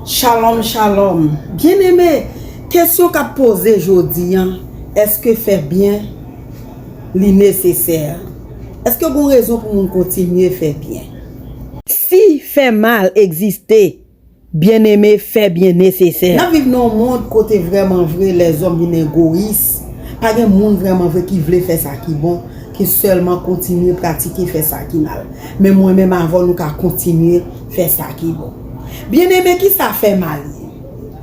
Shalom shalom Byen eme kesyon kap poze jodi an eske fè byen li nesesè eske gon rezon pou moun kontinye fè byen. Si fè mal egziste byen eme fè byen nesesè. Nap viv nan yon mond kote vrèman vre lèzòm vin egoyis pa gen moun vrèman vre ki vle fè sa ki bon ke sèlman kontinye pratike fè sa ki mal Men mwen menm avè w nou ka kontinye fè sa ki bon. Byeneme, ki sa fè mal ye?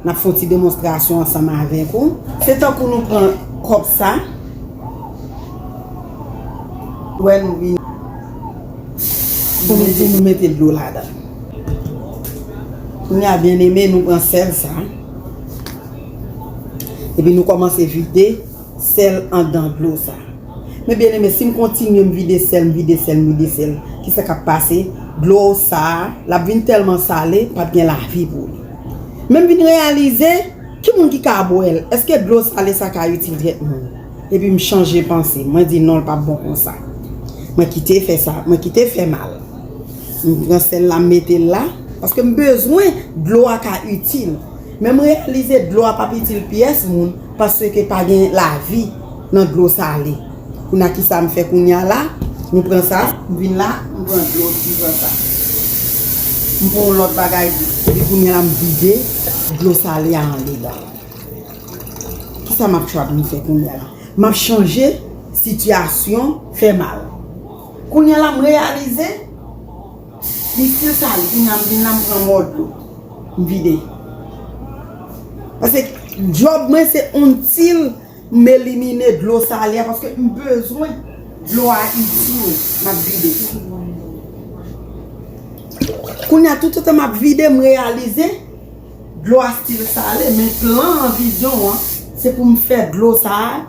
N ap fè yon ti demonstrasyon ansanm avèk ou. Se tankou nou pran kòb sa. Ou wè nou vin. Pou nou di nou mete dlo ladan l. Kounye a byeneme, nou pran sèl sa. Epi nou kòmanse vide Sèl andan dlo sa. Men byen eme sim kontinye m vide sèl m vide sèl m vide sèl kisa kap pase dlo sa lap vin tèlman sale pap gen lavi pou li men m vin reyalize ki moun ki ka bwèl eske dlo sale sa ka itil tèt moun epi m chanje panse mwen di non l pap bon konsa mwen kite fè sa mwen kite fè mal m pran sèl la m metel la paske m bezwen dlo a ka itil. Men m reyalize dlo a pap itil pyès moun paske pa gen lavi nan dlo sale. Kouna kisa m fè kounya la? M pran sa, m vin la, m pran dlo, m pran sa. M pran yon lòt bagay tou. Epi kounya la m vide dlo sale a anlè la. Kisa m ap chwabenn fè kounya la? M ap chanje sitiyasyon fè mal. Kounya la m reyalize. Li stil sa li kounya m vin la m pran mòd dlo m vide paske djòb mwen se until m elimine dlo sale a paske m bezwen dlo a itil m ap vide kounya toutotan m ap vide m reyalize dlo a stil sale men plan an vizyon an se pou m fè dlo sa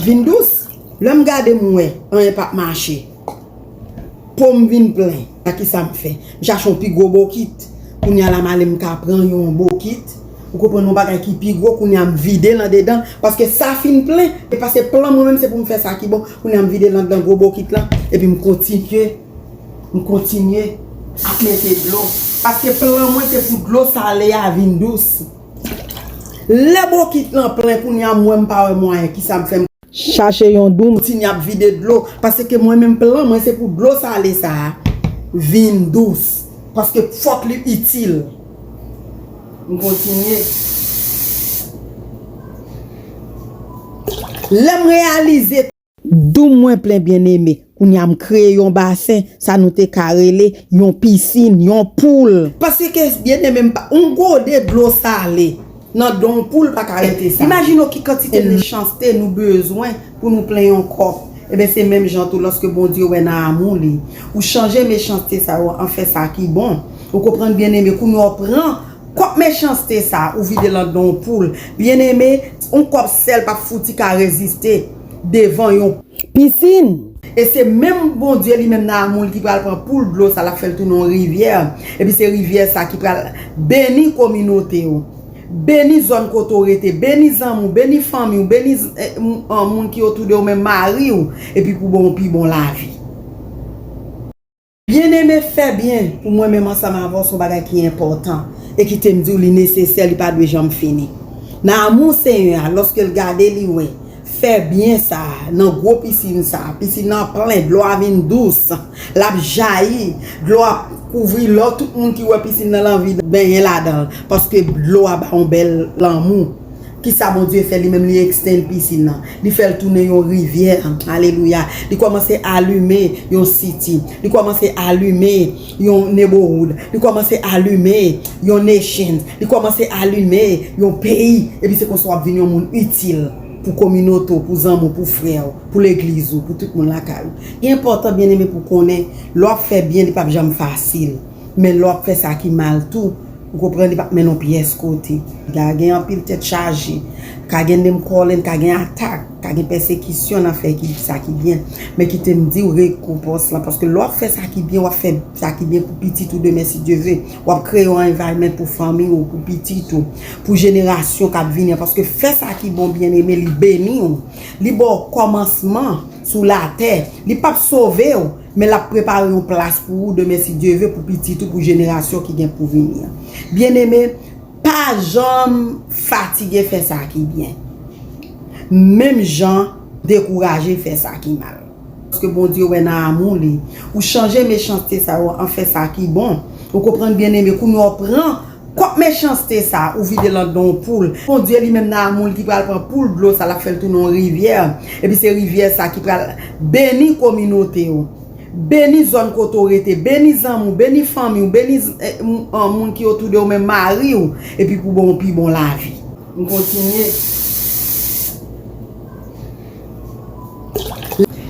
vin dous lè m gade m wè anyen p ap mache. Pom vin plen a kisam fè m chache yon pi gwo bokit kounya la male m ka pran yon bokit ou konprann yon bagay ki pi gwo kounya m videl andedan paske sa fin plen epa se plan mwen menm se pou m fè sa ki bon kounya m videl andedan gwo bokit lan epi m kontinye m kontinye ap mete dlo paske plan mwen se pou dlo sale a vin dous lè bokit lan plen kounya m wè m pa wè mwayen kisam fè m. Chache yon doum. Kontinye ap vide dlo. Paske mwen menm plan mwen se pou dlo sale sa a vin dous. Paske fòk li itil. M kontinye. Lè m reyalize. Doum mwen plen byeneme. Kounya m kreye yon basen, sa nou te ka rele, yon pisin, yon poul. Paske, byeneme m pa. Yon gode dlo sale, nan do yon poul pa ka rete sale. Imajine w ki kantite mechanste nou bezwen pou nou plen yon kòf. Enben, se menm jan tou, lòske Bondye wè nan amou li, ou chanje mechanste sa yo an fè sa ki bon. Ou konprann byeneme? Kounya w pran kòp mechanste sa a, ou vide l nan do yon poul. Byeneme, yon kòp sèl pa p fouti ka reziste devan yon. pisin. E se menm Bondye li menm nan amou l ki pral pran poul dlo sa l ap fè l tounen yon rivyè, epi se rivyè sa ki pral beni kominote w, beni zòn kote w rete, beni zanmi w, beni fanmi w, beni moun ki otou de w menm, mari w, epi pou ba w pi bon lavi. Byeneme, fè byen, pou mwen menm ansanm avè w, se yon bagay ki enpòtan, e kite m di w li nesesè, li pa dwe janm fini. Nan amou Senyè a, lòske l gade li wè, fè byen sa a, nan gwo pisin sa a, pisin nan plen, dlo a vin dous, l ap jayi, dlo a kouvri lò, tout moun ki wè pisin nan l anvi benyen ladan l, paske dlo a ba yon bèl lanmou. Kisa Bondye fè li menm li extend piscine nan li fèl tounen yon rivyè alelouya li kòmanse alume yon city li kòmanse alume yon neighborhood li kòmanse alume yon nation li kòmanse alume yon peyi epi se konsa wap vin yon moun itil pou kominote w pou zanmi w pou frè w pou legliz ou pou tout moun lakay ou li enpòtan byeneme pou konnen lè wap fè byen li pap janm fasil. Men lè w ap fè sa ki mal tou, ou konprann li p ap mennen w pyès kote. Li ka gen anpil tèt chaje, ka gen name calling, ka gen atak, ka gen pèsekisyon nan fè sa ki byen. Men kite m di w rekonpans lan, paske lè w ap fè sa ki byen, w ap fè sa ki byen pou pitit ou demen si Dye ve. W ap kreye yon environment pou fanmi ou, pou pitit ou, pou jenerasyon k ap vini an. Paske fè sa ki bon byeneme li beni w, li ba w kòmansman sou latè. Li p ap sove w. Men lap prepare yon plas pou ou demen si Dye ve pou pitit ou pou jenerasyon ki gen pou vini an. Byeneme, pa janm fatige fè sa ki byen. Menm jan dekouraje fè sa ki mal. Paske Bondye wè nan amou li. Ou chanje mechanste sa yo an fè sa ki bon. Ou konprann byeneme, kounye a w pran Kòk mechanste sa ou vide lan don w poul kondwi li menm nan amou l ki pral pran poul dlo sa lap fè l tounen yon rivyè epi se rivyè sa ki pral beni kominote w beni zòn kote w rete beni zanmi w beni fanmi w beni moun ki otou de w menm mari w epi pou bon w pi bon lavi. M kontinye.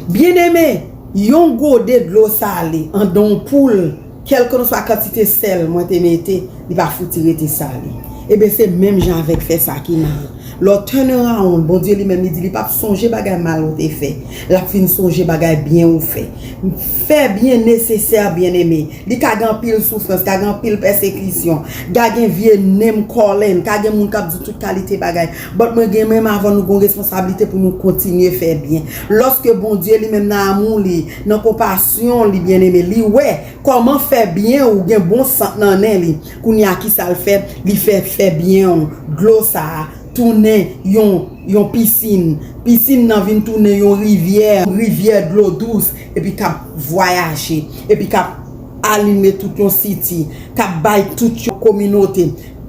Byeneme, yon gode dlo sale an don w poul. Kèlkenswa kantite sèl mwen te mete, li pa fouti rete sale. Eben se menm jan avèk fè sa ki mal. Lè w turn around, Bondye li menm li di li pap sonje bagay mal ou te fè. Lap fin sonje bagay byen ou fè. Fè byen nesesè byeneme. Li ka gen anpil soufrans, ka gen anpil pèsekisyon, ga gen vye name calling, ka gen moun kap di tout kalite bagay. But mwen gen menm avan nou gon responsablite pou nou kontinye fè byen. Loske Bondye li menm nan amou li. Nan konpasyon li byeneme, li wè kòman fè byen ou gen bon sant nan nen li. Kounye a kisa l fè? Li fè fè byen ou, dlo sa a, tounen yon yon pisin. Pisin nan vin tounen yon rivyè, rivyè dlo dous epi k ap vwayaje, epi k ap alime tout yon siti, k ap bay tout yon kominote,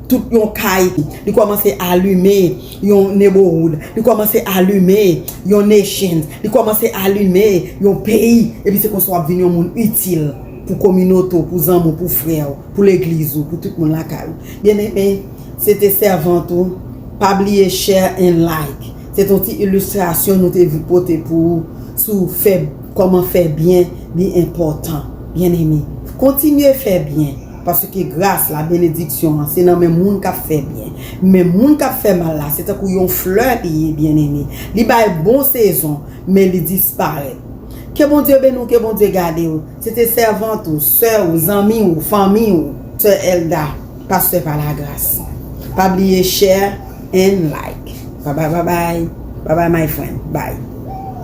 tout yon kay. Li kòmanse alime. yon neighborhood, li kòmanse alime yon nation, li kòmanse alime yon peyi, epi se konsa wap vin yon moun itil pou kominote w, pou zanmi w, pou frè w, pou legliz ou, pou tout moun lakay ou. Byeneme, se te sèvant ou, pa bliye share and like. Se te yon ti illustration nou te vle pote pou ou sou fè, kòman fè byen li enpòtan. Byeneme, kontinye fè byen. Paske gras la, benediksyon an, se nan men moun k ap fè byen. Men moun k ap fè mal la, se tankou yon flè li ye, byeneme. Li bay bon sezon, men li disparèt. Ke Bondye beni w, ke Bondye gade w. Se te sèvant ou, sè ou, zanmi ou, fanmi ou. Sè Elda, Pastè pa la gras. Pa bliye share and like. Bye bye bye bye. Bye bye my friend. Bye.